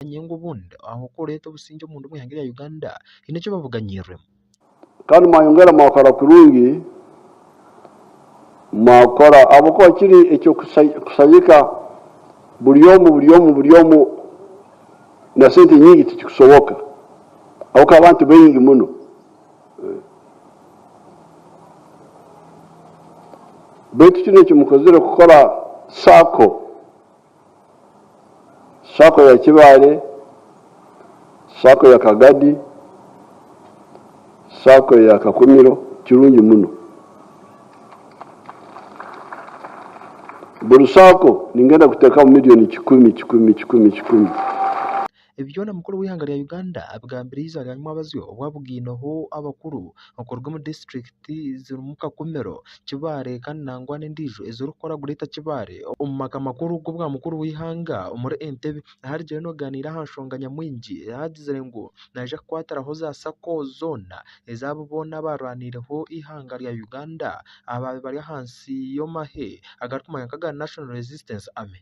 obwire ngu obundi aho ku oreeta obusingye omu ndumu eihanga erya Uganda haine eki babuganyiiremu. Kandi mwayongera mwakora kurungi mwakora ahabw'okuba kiri eky'okushagika buri omu buri omu buri omu na sente nyingi tikikusoboka ahabw'okuba abantu baingi muno beitu kinu eki mukozire kukora sacco. sacco ya Kibaale, sacco ya Kagadi, sacco ya Kakumiro kirungi muno. Buri sacco ningenda kuteekamu million kikumi kikumi kikumi kikumi. Ebi byona mukuru w'eihanga rya Uganda abigambire eiziba rya Nyumabazyo obwo abugaineho abakuru okuruga omu disiturikiti zirimu Kakumiro, Kibaale kandi nangwa n'endiijo ezirikukora Greater Kibaale omu maka makuru g'obwa mukuru w'eihanga omuri Entebbe ahu arigire nogaaniira aha nshonga nyamwingi ahu agizire ngu naija kukwatiraho za Sacco zoona ezaabo boona abaarwaniireho eihanga rya Uganda abaabaire bari ahansi y'amahe agarikumanywa nka aga National Resistance Army.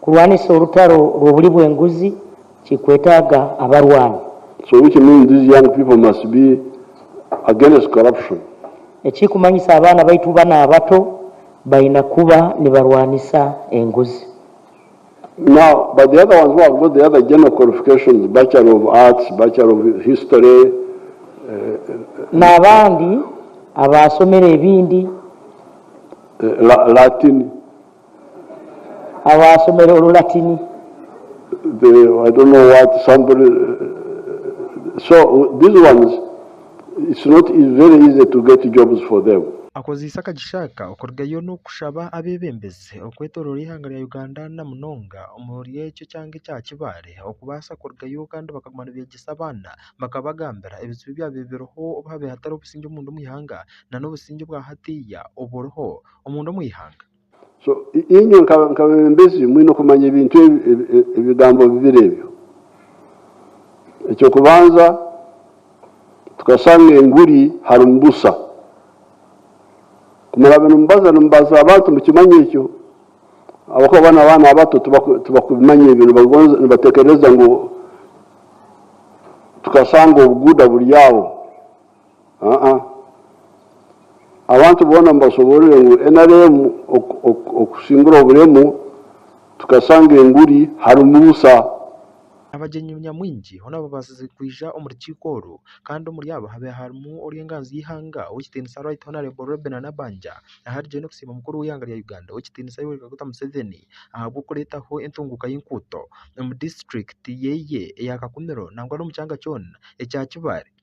Kurwanisa orutaro rw'oburi bw'enguzi kikwetaaga abarwani. So which means these young people must be against corruption. Ekirikumanyisa abaana baitu banu abato baine kuba nibarwanisa enguzi. Now but the other ones who have got the other general qualifications, Bachelor of Arts, Bachelor of History, eh, N'abandi abaasomere ebindi. eh, La, Latin, abaashomire Orulatini. Akozeise akagisha aka okurugayo n'okushaba abeebembezi okwetoroora eihanga rya Uganda na munonga omuri ekyo kyanga ekya Kibaale okubaasa kurugayo kandi bakaguma nibeegyesa abaana bakabagambira ebizibu ebyabire biriho obu haabaire hatariho busingye omundi omu ihanga nana obusingye bwa hatiiya oburiho. omunda omu ihanga. So inywe nk'abebembezi mwine okumanya ebintu ebigambo bibiri ebyo. Eky'okubanza, tukashanga enguri harimu busha. Kumuraabe nimubaza nimubaza abantu mukimanye ekyo ahabw'okuba boona abaana abato tibakubimanya ebyo nibatekereza ngu tukashanga obuguuda buri aho. Aa, abantu boona mubashoboorore ngu nrm okusingura oburemu tukasanga enguri harimu busa. Abagyenyi nyamwingi hoona babaasize kwija omu rukiiko oru kandi omuri abo habaire harimu orw'enganzi y'eihanga ow'ekitiinisa Right Honourable Robinah Nabbanja aharigyire n'okusiima mukuru w'eihanga rya Uganda ow'ekitiinisa Yoweri Kaguta Museveni ahabw'okureetaho entunguuka y'enkuuto omu disiturikiti yeye eya Kakumiro nangwa n'omu kyanga kyoona ekya Kibale.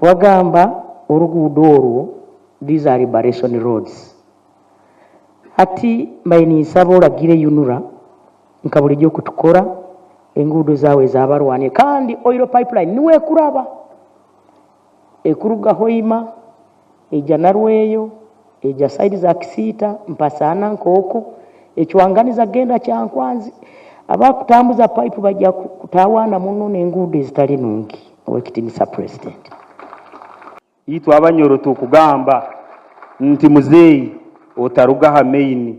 Wagamba oruguudo orwo these are liberation roads hati mbaire ninsaba oragire UNRA nka buri ryokutukora enguudo zaawe zaabarwanire kandi oil pipeline niwekuraba ekuruga Hoima, Eija Narweyo, eija side za Kisiita, mpatsana na Nkooko, ekwanganiza genda Kyankwanzi, abakutambuza pipe baija kutawana muno n'enguudo ezitari nungi. Ow'ekitiinisa President. Itwe Abanyoro tukugamba nti muzeeyi otaruga aha main.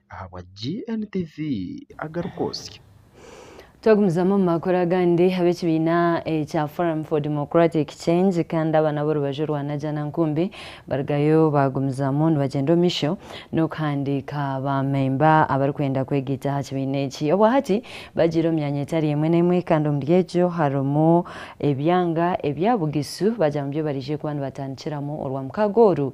ahabwa GNTV agarikwotsya. Twagumizamu omu makuru agandi ab'ekibiina ekya Forum for Democratic Change kandi aba n'ab'orubaju rwa Najana Nkumbi barugayo baagumizamu nibagyenda omu maisho n'okuhandiika baamemba abarikwenda kwegaita aha kibiina eki. Obwahati bagiire omu myanya etari emwe n'emwe kandi omuri egyo harimu ebyanga ebya Bugisu bagyamubyo baraije kuba nibatandikiramu orwa mukaaga oru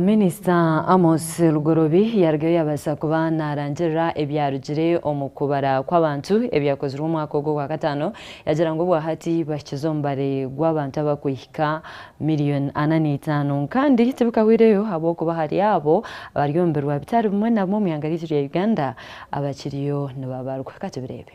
Minisita Amos Lugorobi yarugayo yaabaasa kuba naarangirira ebyarugire omu kubara kw'abantu ebyakozirwe omwaka ogwo gwa kataano, yaagira ngu obwa hati bahikize omubare gw'abantu abakwihika miriyoni ana n'eitaano kandi tibikahweireyo ahabw'okuba hariyo abo abari omu birwa bitari bimwe na bimwe omu ihanga ryaitu rya Uganda abakiriyo nibabarwa. Ka tubireebe.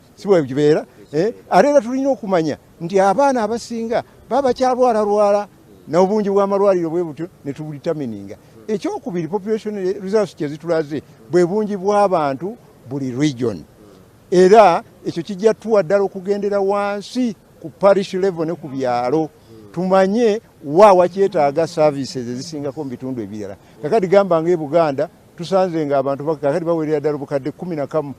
Si bwebyo kibeera? Ari era twine okumanya nti abaana abasinga baba bakyarwararwara na obungi bw'amarwariro bwe butyo nituburitamininga. Eky'okubiri, population results kye zituraze bwe bungi bw'abantu buri region. Era ekyo kigya tuha dara okugendera wansi ku parish level ne ku byaro tumanye wa wakyetaga services ezisingako omu bitundu ebirara. Kakati gamba nga e Buganda tusanze nga abantu kakati bawerera dara obukade kumi na kamu.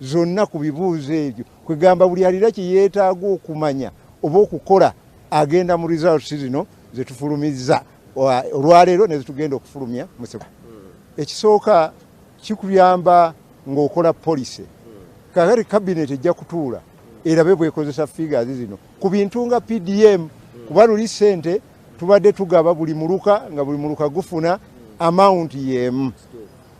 zona ku bibuuzo ebyo kwegamba buri ariire ekiyetaaga okumanya oba okukora agenda mu results zino zetufulumiza orwaleero nezitugenda okufulumya mu September. Ekisooka kikuyamba nga okora policy kakati cabinet ejja kutuura erabe bwekozesa figures zino ku bintu nga PDM kuba luri sente tubadde tugaba buri muruka nga buri muruka gufuna amount yemu.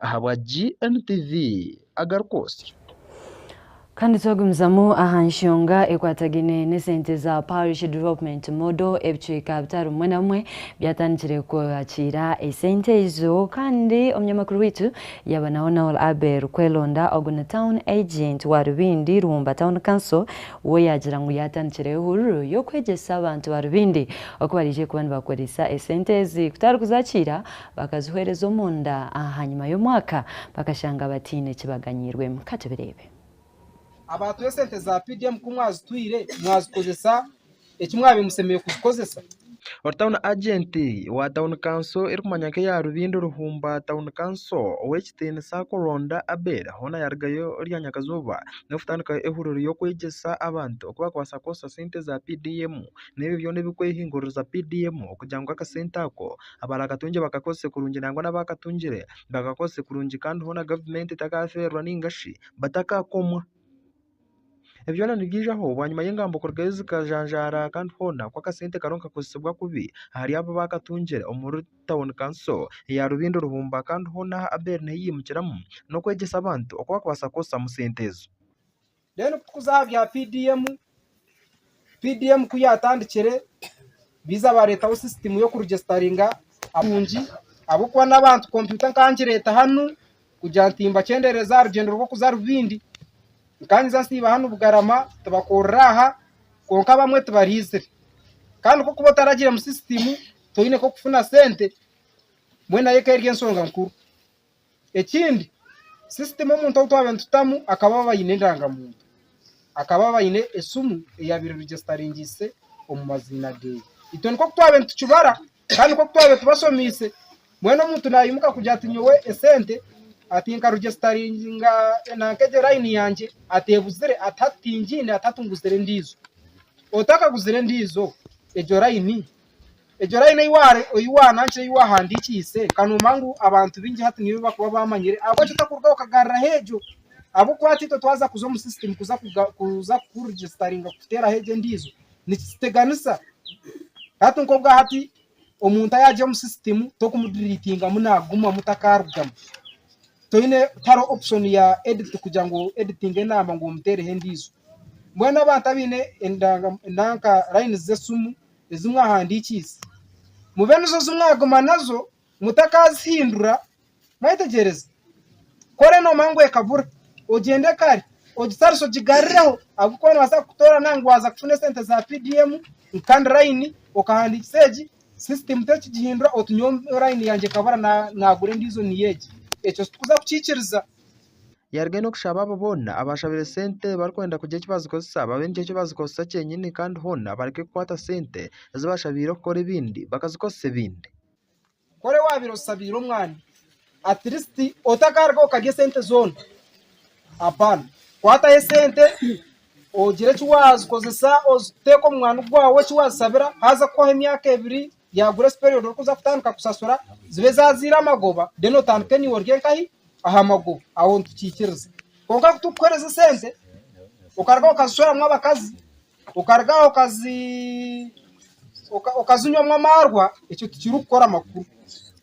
ahabwa GNTV agarikwotsya. Kandi twagumizamu aha nshonga ekwatagaine n'esente za Parish Development Model, ebicweka bitaano bimwe na bimwe byatandikire kwakiira esente ezo kandi omunyamakuru waitu yaabanaho Noel Abel Kwelonda ogu ni Town Agent wa Rubindi Ruhumba Town Council we yaagira ngu yaatandikireyo hururu y'okwegyesa abantu ba Rubindi oku baraije kuba nibakoresa esente ezi kutarikuzakiira Bakazihoereza omunda ahanyima y'omwaka bakashanga bataine eki baganyiirwemu. Ka tubireebe. Abaatuha esente za PDM ku mwazituhaire mwazikozesa eki mwabaire musemeriire kuzikozesa. Ori Town Agent wa Town Council erikumanywa nk'eya Rubindo Ruhumba Town Council ow'ekitiinisa kuronda Abel hoona yarugayo rya nyakazooba n'okutandikaho ehuriro y'okwegyesa abantu oku baakubaasa kukoresa sente za PDM n'ebyo byona ebirikwehinguririza PDM kugira ngu akasente ako Abarakatungye bakakozese kurungi nangwa n'abaakatungire bakakozese kurungi kandi hoona gavumenti etakafeerwa nainga shi batakakomwa. Ebi byona nibyijaho bwanyima y'engambo kurugayo zikajanjaara kandi hoona ku akasente kariho nikakozesibwa kubi ahari abo abaakatungire omuri tauni kanso eya Rubindo Ruhumba kandi hoona ahu ABER nehi yaimukiramu n'okwegyesa abantu oku barikubaasa kukozesamu sente ezo. Then kutukuza aha bya PDM, PDM ku yaatandikire biza baareetaho sisitimu y'okurugisitaringa abatungi ahabw'okuba n'abantu kompyuta nkangireeta hanu kugira nti mbakyendeereze aha rugyendo rw'okuza Rubindi. Nkangiza nsiiba hanu Bugarama tibakorera aha kwonka abamwe tibaraizire. Kandi ku orikuba otaragire omu sisitimu toine nk'okufuna sente, mbwenu nayo ekaba eri ensonga nkuru. Ekindi sisitimu omuntu ou twabaire nitutamu akaba abaire aine endangamuntu, akaba abaire aine esimu eyaabaire erigyesitaringiise omu maziina ge. Itwe nikwo ku twabaire nitukibara kandi nikwo ku twabaire tubashomiise. Mbwenu omuntu naimuka kugira ati nyowe esente ati nkarugyesitaringa nanka egyo layini yangye ateebuzire ati hati tingiine ati hati nguzire endiijo. Otakaguzire endiijo egyo layini Egyo rayini ei waanankire ei waahandiikiise, ka noomanya ngu abantu baingi hati niyo ei barikuba baamanyire. Ahabw'ekyo tokurugaho okagaruraho egyo ahabw'okuba hati itwe twaza kuza omu sisitimu kuza kuza kurigisitaringa kuteeraho egyo endiijo, nikituteganisa. Hati nk'obwa hati omuntu ayaagira omu sisitimu tokumudiriitingamu naagumamu takaarugamu. Toine tihariho opushoni ya editi kugira ngu oditinge enaamba ngu omuteereho endiijo. Mbwenu abantu abaine endanga nanka rayini z'esimu ezi mwahandiikiise, mube nizo zi mwaguma nazo mutakaazihindura. Mwetegyereze. Kore noomanya ngu ekabura, ogyende kare ogitarisa ogigarurireho ahabw'okuba noobaasa kukutoorana ngu waaza kufuna esente za PDM ngu kandi layini okahandiikisa egi sisitiimu terikugihindura oti nyowe layini yangye ekabura naagura endiijo niyo egi. Ekyo tituza kukiikiriza. Yaruga enu kushaba abo boona abaashabire sente barikwenda kugira eki baazikozesa babe nikyo eki baazikozesa kyenyini kandi hoona bareke kukwata sente ezi baashabiire kukora ebindi bakazikozesa ebindi. Kore waabaire oshabiire omwana atirisiti otakaruga okarya sente zoona, hapana. Kwataho esente ogire eki waazikozesa, oziteeke omu mwaani gwaawe eki waazishabira, haza kuhwaho emyaka ebiri, Ya grace period orikuza kutandika kusasura zibe zazaire amagoba then otandike enyiwe orye nkahi aha magoba aho nitukikiriza kwonka kutukukuhereza esente okaruga aho okazishweramu abakazi okaruga aho okazinywamu amaarwa ekyo tikirikukora makuru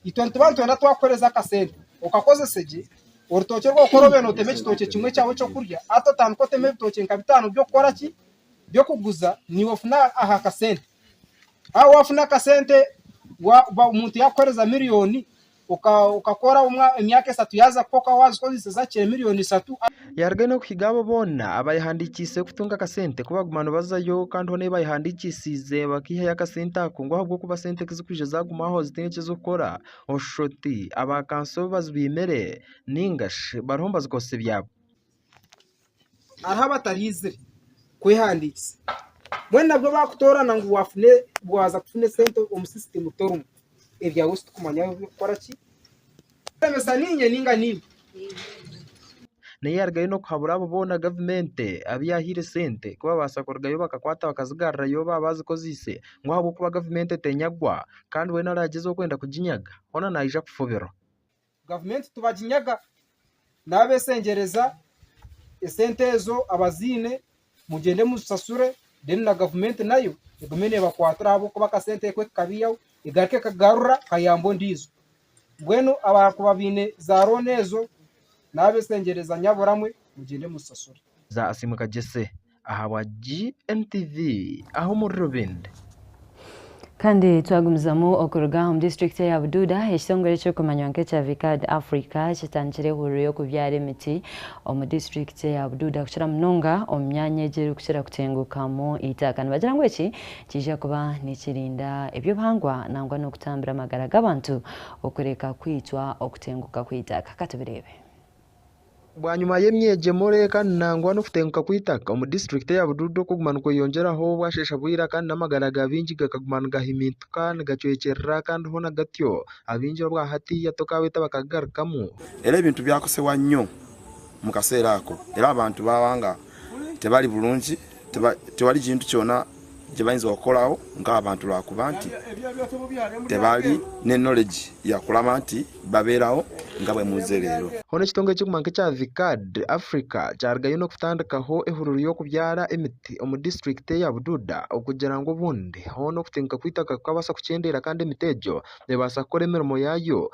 itwe nituba nitwenda twakukuhereza akasente okakozese gye orutookye orwokukora obe notema ekitookye kimwe kyawe ekyokurya hati otandike oteme ebitookye nka bitaano by'okukoraki by'okuguza niiwe ofune aha kasente. Haaba waafuna akasente omuntu yaakuheereza miriyoni okakora emyaka esatu yaaza kukoka waazikozesa zaakira miriyoni ishatu. Yarugayo n'okuhiga abo boona abaayehandiikiise kutunga akasente ku baaguma nibazayo kandi hoona ei baayehandiikiisiize bakaihayo akasente ako ngu ahabw'okuba sente ku zirikwija zaagumaho zitaine eki zirikukora oshuusha oti abaakansa obu bazibaimire nainga shi bariho nibazikozesa ebyabo. hariho abataraizire kwehandiisa mbwenu nabwo baakutoorana ngu waaza kufuna esente omu sisitimu torimu ebyawe titurikumanya ku orikukora ki. Orikurebesa niinye nainga naiwe? Naye yaarugayo n'okuhabura abo boona gavumenti abu yaahaire sente ku baabaasa kurugayo bakakwata bakazigarurayo baaba baazikozeise ngu ahabw'okuba gavumenti etenyagwa kandi weena araagyezaho kwenda kuginyaga hoona naija kufubirwa. Gavumenti tibaginyaga naabesengyereza esente ezo abaziine mugyende muzisasure then na gavumenti nayo egume neebakwatira ahabw'okuba akasente ekwe kikabaihaho egaruke ekagarura kayambe ondiijo. Mbwenu abaakuba baine za looni ezo naabesengyereza nyaburamwe mugyende muzisasure. Za Asiimwe Kagyese. ahabwa GNTV aha omuri Rubindi. Kandi twagumizamu okuruga omu disiturikiti eya Bududa, ekitongore ekirikumanywa nk'ekya Vicard Africa kitandikire hururu y'okubyara emiti omu disiturikiti eya Bududa kukira munonga omu myanya egi erikukira kutengukamu eitaka nibagira ngu eki nikiija kuba nikirinda eby'obuhangwa nangwa n'okutambira amagara g'abantu okureka kwitwa okutenguka kw'eitaka. Ka tubireebe. Bwanyima y'emyegyemo reeka nangwa n'okutenguka kw'eitaka omu district eya Bududu okuguma nikweyongyeraho bwashesha bwira kandi n'amagara ga baingi gakaguma nigahimintika nigacwekyerera kandi hoona gatyo abaingi obwa hati hati okaabeta bakagagarukamu. Era ebintu byakosewa nyo mukaseera ako era abantu bawanga tebari burungi tewari kintu kyona kyebayinza kukoraho nkabantu rwakuba nti tebari ne knowledge yakuraba nti baberaho nka bwemuze rero. Hoona ekitongore kiguma nk'ekya VCAD Africa kyarugayo n'okutandikaho ehururu y'okubyara emiti omu district eya Bududa okugira ngu obundi hoona okutinka kw'eitaka kukabaasa kukyendeera kandi emiti egyo nebaasa kukora emirimo yaayo.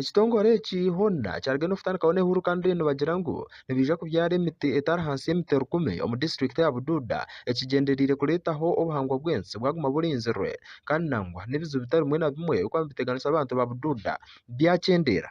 Ekitongore eki hoona kyarugire n'okutandikaho n'ehururu kandi reero nibagira ngu nibaija kubyara emiti etari ahansi y'emiti rukumi omu disiturikiti ya Buduuda ekigyendereire kureetaho obuhangwa bw'ensi bwaguma burinzirwe kandi nangwa n'ebizibu bitari bimwe na bimwe ebirikuba nibiteganisa abantu ba Buduuda byakyendeera.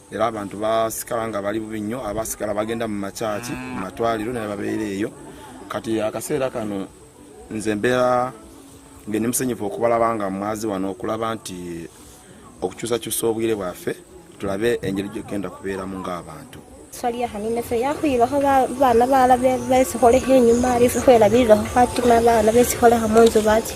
Reero abantu baasikara nga bari bubi nyo abaasigara bagenda mu machachi, mu matwariro nari babeera eyo. Kati aha kaseera kanu nze mbeera mbwenu nimusanyufu okubaraba nga mwaziwa n'okuraba nti okucuusacuusa obwire bwafe turabe engeri ei turikugenda kubeeramu nk'abantu. Twari aha Ninefe yaahwirweho abaana baaraba beesihoreho enyima, reero itwe twahwera abairureho twatuma abaana beesihoreho omu nju batyo.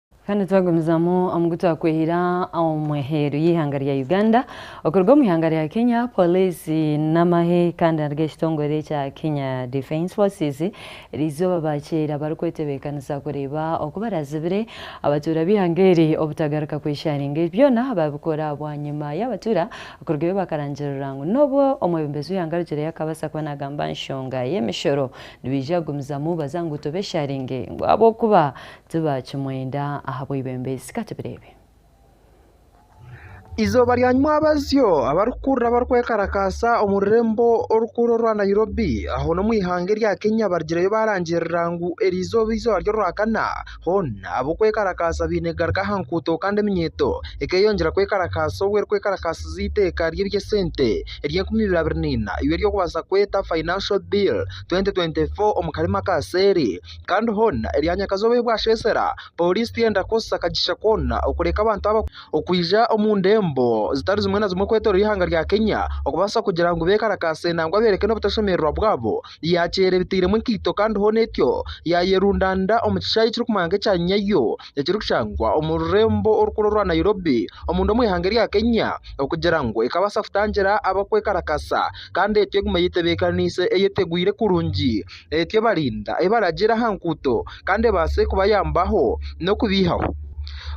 Kandi twagumizamu omu gu twakwehire omu eheeru y'eihanga rya Uganda, okuruga omu ihanga rya Kenya Poliisi n'amahe kandi nari g'ekitongore ekya Kenya Defence Forces eri izooba baakyera barikwetebeekanisa kureeba oku baraazibire abatuura b'eihanga eri obutagaruka kweshaaringa. Ebi byona baabikora bwanyima y'abatuura kurugayo bakarangirira ngu n'obu omwebembezi w'eihanga arugire yaakubaasa kuba naagamba aha nshonga y'emishoro nibaija kugumizamu baza ngu tubeshaaringe ngu ahabw'okuba Tibaakimwenda ahabw'eibembeezi. Ka tubireebe. Eizooba rya nyima abazyo abarikukurura barikwekarakaasa omu rurembo orukuru orwa Nairobi ahoona omu ihanga erya Kenya barigireyo baarangirira ngu eri eizooba eizooba ry'orwakana hoona ab'okwekarakaasa baine kugaruka aha nguuto kandi eminyeeto ekeeyongyera kwekarakaasa obwo erikwekarakaasiza eiteeka ry'eby'esente ery'enkumi ibiri abiri na ina ei erikubaasa kweta Financial Bill twenty twenty four omu karimu akaaseeri. kandi hoona eri aha nyakazooba ei bwasheesera pooriisi tihenda kukoresa kagisha koona okureka abantu aba okwija omu ndembo zitari zimwe na zimwe okwetooroora eihanga rya Kenya okubaasa kugira ngu beekarakaase nangwa beereke n'obutashemererwa bwabo yaakyeera ebitairemu enkaito kandi hoona etyo yaayerundaanira omu kishaayi ekirikumanywa nk'ekya Nyayo ekirikushangwa omu rurembo orukuru orwa Nairobi omunda omu ihanga erya Kenya okugira ngu ekabaasa kutangira abakwekarakasa kandi etyo egume eyetebeekaniise eyetegwire kurungi. Eti ebarinda, ebaragira aha nguuto kandi ebaase kubayambaho n'okubeihaho.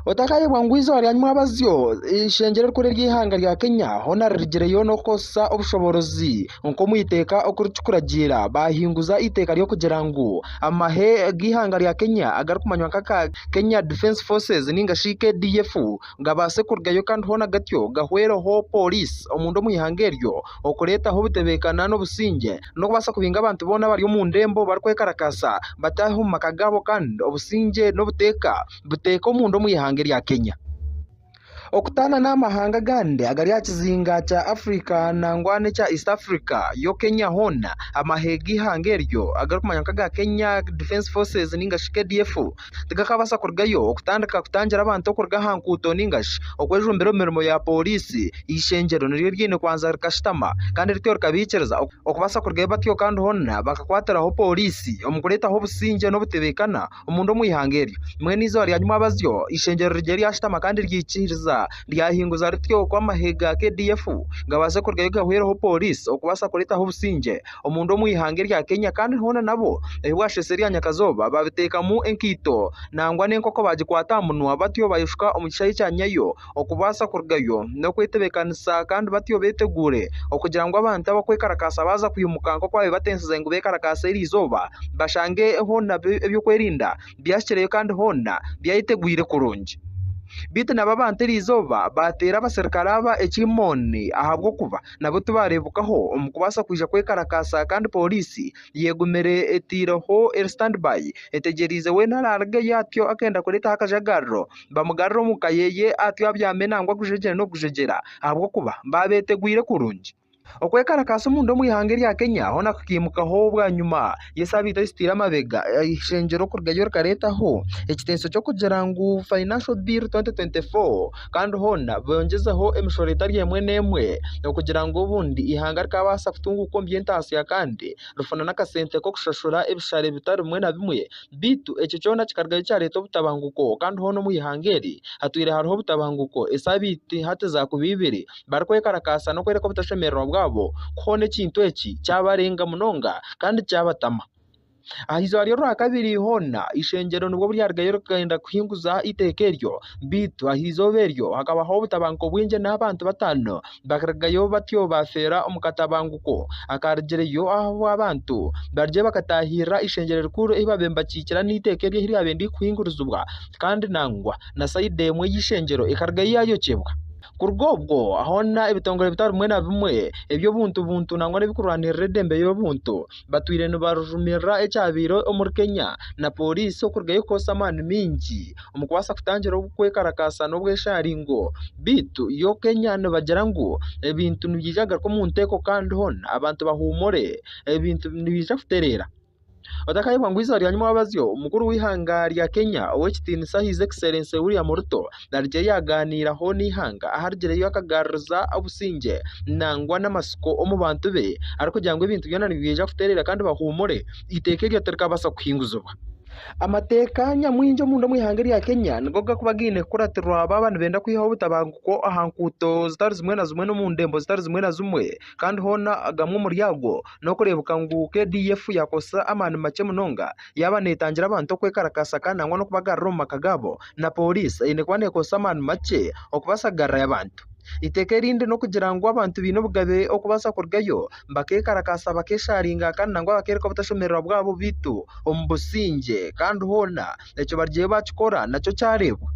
Otakayebwa ngu eizooba ryanyu mwabazyo eishengyero erikuru ery'eihanga rya Kenya hoona ririgireyo n'okukoresa obushoboorozi nk'omu iteeka oku ririkuragiira baahinguza eiteeka ry'okugira ngu amahe g'eihanga rya Kenya agarikumanywa nka aga Kenya Defence Forces nainga shi KDF gabaase kurugayo kandi hoona gatyo gahwereho pooriisi omunda omu ihanga eryo okureetaho obutebeekana n'obusingye. n'okubaasa kubinga abantu boona abari omu ndembo barikwekarakasa bataahe omu maka gaabo kandi obusingye n'obuteeka buteeka omunda omu ihanga erya Kenya. Okutaana n'amahanga agandi agari aha kizinga kya Africa nangwa n'ekya East Africa yo Kenya hoona amahe g'eihanga eryo agarikumanywa nk'aga Kenya Defence Forces ninga shi KDF tigakabaasa kurugayo okutandika kutangira abantu okuruga aha nguuto nainga shi okwejumbira omu mirimo ya pooriisi. Eishengyero niryo ryaine kubanza rikashutama kandi rityo rikabaikiriza okubaasa kurugayo batyo kandi hoona bakakwatiraho pooriisi omu kureetaho obusingye n'obutebeekana omunda omu ihanga eryo. Mbwenu eizooba rya nyimwabazyo eishengyero rigire ryashutama kandi ryikiriza ryahinguza rityo ku amahe ga KDF gabaase kurugayo gahwereho pooriisi okubaasa kureetaho obusingye. omundu omu ihanga erya Kenya kandi hoona nabo ebi bwashesha erya nyakazooba baabiteekamu enkaito nangwa n'enkoko baagikwata aha munwa batyo bayeshuka omu kishaayi kya Nyayo okubaasa kurugayo n'okwetebeekanisa kandi batyo beeteguure okugira ngu abantu abakwekarakaasa baaza kwimuka nk'oku baabibatensize ngu beekarakaase eri izooba bashange hoona eby'okwerinda byahikireyo kandi hoona byayetegwire kurungi. Beitu nabo abantu eri izooba baateera abaserukare aba ekiimooni ahabw'okuba nabo tibaareebekaho omu kubaasa kwija kwekarakaasa kandi pooriisi yeegumire etaireho eri stand by etegyereize weena araarigeyo atyo akenda kureetaho akajagararo bamugarure omu ka yeeye atyo abyame nangwa gujegyere n'okugujegyera ahabw'okuba baabeetegwire kurungi. Okwekarakaasa omunda omu ihanga erya Kenya hoona kukaimukaho bwanyima. Yesu abaire aisitwire amabega eishengyero kurugayo rikareetaho ekiteenso ky'okugira ngu Financial Bill 2024 kandi hoona boongyezeho emishoro etari emwe n'emwe okugira ngu obundi eihanga rikaabaasa kutunguuka omu by'entaatsya kandi rifuna n'akasente k'okushashura ebishare bitari bimwe na bimwe beitu ekyo kyona kikarugayo kyareeta obutabanguko kandi hoona omu eihanga eri hatwire hariho obutabanguko esaabiiti hati zaakuba ibiri. barikwekarakasa n'okworeka obutashemererwa bwabo ku hoona ekintu eki kyabarenga munonga kandi kyabatama. Aha izooba ry'Orwakabiri hoona eishengyero nibwo ryarugayo rikagenda kuhinguza eiteeka eryo, beitu aha izooba eryo hakabaho obutabanguko bwingi n'abantu bataano bakarugayo batyo baafeera omu katabanguko akaarugireyo ahu abantu barugire bakataahirira eishengyero rikuru ei baabaire nibakiikira n'eiteeka eryo ei ryabaire ririkuhingurizibwa kandi nangwa na sayidi emwe y'eishengyero ekarugayo yaayokyebwa. Kuruga obwo, hoona ebitongore bitari bimwe na bimwe eby'obuntu buntu nangwa n'ebikurwanirira edembe ry'obuntu batwire nibarumirira ekyabaire omuri Kenya na poriisi okurugayo kukoresa amaani maingi omu kubaasa kutangira okwekarakaasa n'obwesharingo beitu yo Kenya nibagira ngu ebintu nibiija kugaruka omu nteeko kandi hoona abantu bahuumure ebintu nibiija kutereera. Otakayebwa ngu eiziba rya nyima wabazyo omukuru w'eihanga rya Kenya ow'ekitiinisa His Excellency William Ruto narigye yagaaniiraho n'eihanga aharigireyo akagaruriza obusingye nangwa n'amatsiko omu bantu be arikugira ngu ebintu byona nibyija kutereera kandi bahuumure eiteeka eryo tirikabaasa kuhinguzibwa. Amateeka nyamwingi omunda omu ihanga erya Kenya nigo gakuba gaine kukuratirwa baaba nibenda kwihaho obutabanguko aha nkuuto zitari zimwe na zimwe n'omu ndembo zitari zimwe na zimwe kandi hoona agamwe omuri ago N'okureebuka ngu KDF yaakozesa amaani makye munonga yaaba neetangira abantu okwekarakaasa kandi nangwa n'okubagarura omu maka gaabo, na pooriisi eine kuba neekozesa amaani makye okubaasa kugarurayo abantu. Eiteeka erindi n'okugira ngu abantu baine obugabe okubaasa kurugayo bakeekarakaasa bakeeshaaringa kandi nangwa bakeereka obutashemererwa bwabo beitu omu busingye kandi hoona. ekyo barugireyo baakikora nakyo kyareebwa.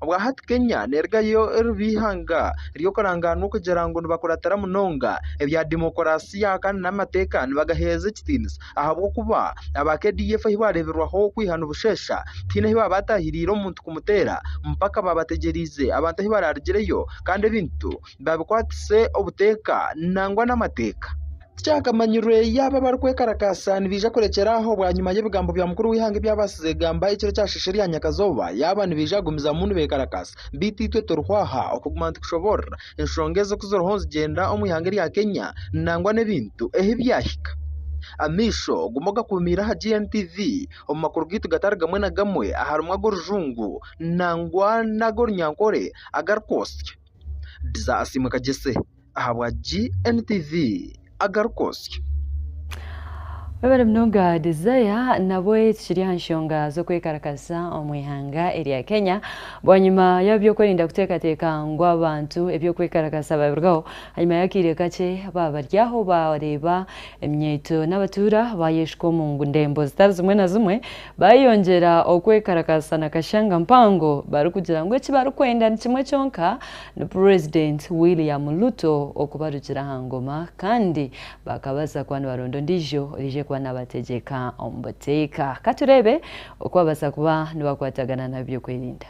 Obwa hati Kenya neerugayo eriba eihanga ry'okurangaanwa okugira ngu nibakuratira munonga ebya demokorasiya kandi n'amateeka nibagaheereza ekitiinisa ahabw'okuba aba KDF ahi baareeberwaho kwiha ni busheesha tihaine ahu baataahiriire omuntu kumuteera mpaka baabategyereize abantu ahu baraarugireyo kandi ebintu babikwatise obuteeka nangwa n'amateeka. Tikyakamanyirwe yaaba abarikwekarakasa nibaija kurekyera aho bwanyima y'ebigambo bya mukuru w'eihanga ebyabaasize kugamba ekiro kyasheesha erya nyakazooba yaaba nibaija kugumizamu nibekarakasa. Beitu itwe turiho aha okuguma nitukushoboorora enshonga ezo ku ziriho nizigyenda omu ihanga erya Kenya nangwa n'ebintu ahu byahika. Amaisho guma ogakuumiire aha GNTV omu makuru gaitu gatari gamwe na gamwe aharimu ag'orujungu nangwa n'ag'orunyankore agarikwotsya. Dizasiimwe Kagyese ahabwa GNTV Agari Kotsya. Webare munonga Desire, nabwe tukiri aha nshonga z'okwekarakasa omu ihanga erya Kenya, bwanyima y'ab'ebyokwerinda kuteekateeka ngu abantu eby'okwekarakasa babirugaho, hanyima y'akaire kakye baba bari aho bareeba eminyeeto n'abatuura baayeshuka omu ndembo zitari zimwe na zimwe, Baayongyera okwekarakaasa na kashanga mpango barikugira ngu eki barikwenda ni kimwe kyonka, ni Purezidenti William Ruto okubarugira aha ngoma kandi bakabaza kuba nibaronda ondiijo orije kuba nabategyeka omu buteeka. Ka tureebe oku babaasa kuba nibakwatagana n'abeebyokwerinda.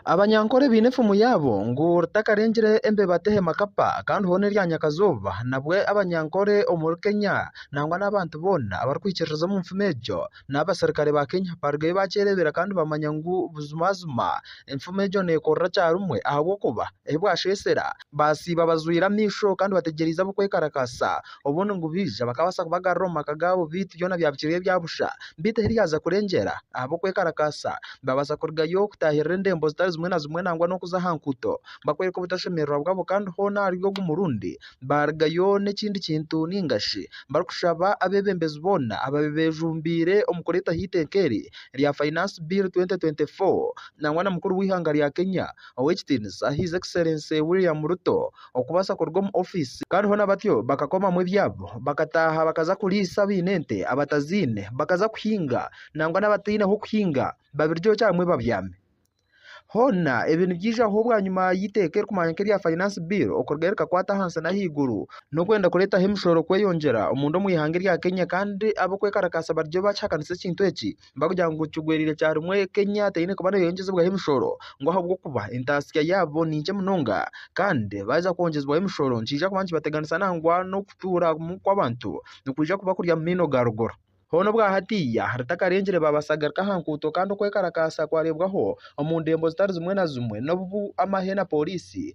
Abanyankore baine efumu yaabo ngu ritakarengire embeba tehema kapa kandi hoona erya nyakazooba nabwo Abanyankore omuri Kenya nangwa n'abantu boona abarikwikiririza omu nfumu egyo n'abaserukare ba Kenya barugayo bakyereebera kandi bamanya ngu buzimazima enfumu egyo neekorera kyarimwe ahabw'okuba ei bwasheesera baasiiba bazwire amaisho kandi bategyereize ab'okwekarakaasa. obundi ngu baije bakabaasa kubagarura omu maka gaabo beitu byona byabukirira ebya busha. Beitu ahi ryaza kurengyera, ahabw'okwekarakaasa, babaasa kurugayo kutaahirira endembo zitari zimwe na zimwe nangwa n'okuza aha nkuuto bakworeka obutashemererwa bwabo kandi hoona ahari ogu murundi baarugayo n'ekindi kintu nainga shi barikushaba abeebembezi boona ababi beejumbiire omu kureetaho eiteeka eri rya Finance Bill 2024 nangwa na mukuru w'eihanga rya Kenya Ow'ekitiinisa His Excellency William Ruto okubaasa kuruga omu ofiisi kandi hoona batyo bakakomamu ebyabo bakataaha bakaza kuriisa abaine ente abataziine bakaza kuhinga nangwa n'abataine h'okuhinga babirye omu kyaro babyame. Hoona ebi nibyijaho bwanyima y'eiteeka erikubaasa kuba erya Finance Bill okurugayo rikakwata ahansi n'ahaiguru n'okwenda kureetaho emishoro kweyongyera omunda omu ihanga erya Kenya kandi ab'okwekarakaasa bariyo baakihakanisa ekintu eki. nibagira ngu kigwereire kya rimwe Kenya teine kuba neebaasa kwongyezibwaho emishoro ngu ahabw'okuba entaasya yaabo ni nkye munonga kandi baaza kwongyezibwaho emishoro nikiija kuba nikibateganisa nangwa n'okutuuramu kw'abantu nikwija kuba kuri aha maino ga ruguru. Hoona obwa hatiiya ritakarengire baabasagarika aha nguuto kandi okwekarakaasa kwareebwaho omu ndembo zitari zimwe na zimwe n'obu amahe na pooriisi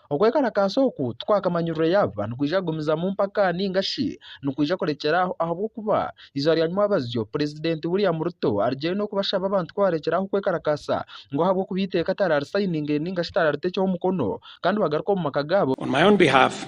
Okwekarakaasa oku tikwakamanyirwe yaaba nikwija kugumizamu mpaka nainga shi nikwija kurekyera aho ahabw'okuba eizooba rya nyimwabazyo Purezidenti William Ruto arugire n'okubashaba abantu ku barekyere aho okwekarakaasa ngu ahabw'okuba eiteeka tararisayiningire nainga shi tarariteekyeho mukono kandi bagaruke omu maka gaabo. On my own behalf,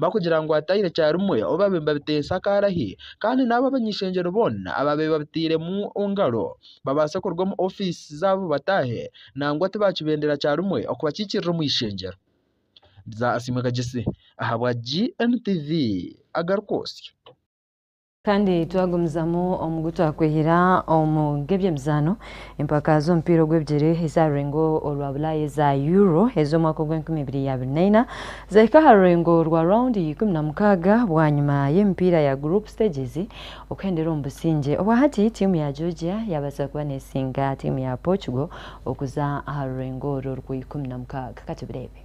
bakugira ngu ataire kyarimwe ou baabaire nibabiteesa akaarahi kandi n'abo abany'ishengyero boona abaabaire babitairemu engaro babaase kuruga omu ofiisi zaabo bataahe nangwa tibaakibendera kyarimwe okubakiikirira omu ishengyero. Bya Asiimwe Kagyesi ahabwa GNTV agaruka osyo. Kandi twagumizamu omu gu twakwehera omu g'ebyemizaano, empaka z'omupiira ogw'ebigyere eza rurengo orwa Bulaaya eza Euro ez'omwaka ogw'enkumi ibiri ya abiri na ina zahika aha rurengo rwa round ya ikumi na mukaaga bwanyima y'emipiira ya group stages okuhendera omu busingye. Obwahati tiimu ya Georgia yaabaasa kuba neesinga tiimu ya Portugal okuza aha rurengo orwo orwa ikumi na mukaaga. Ka tubireebe.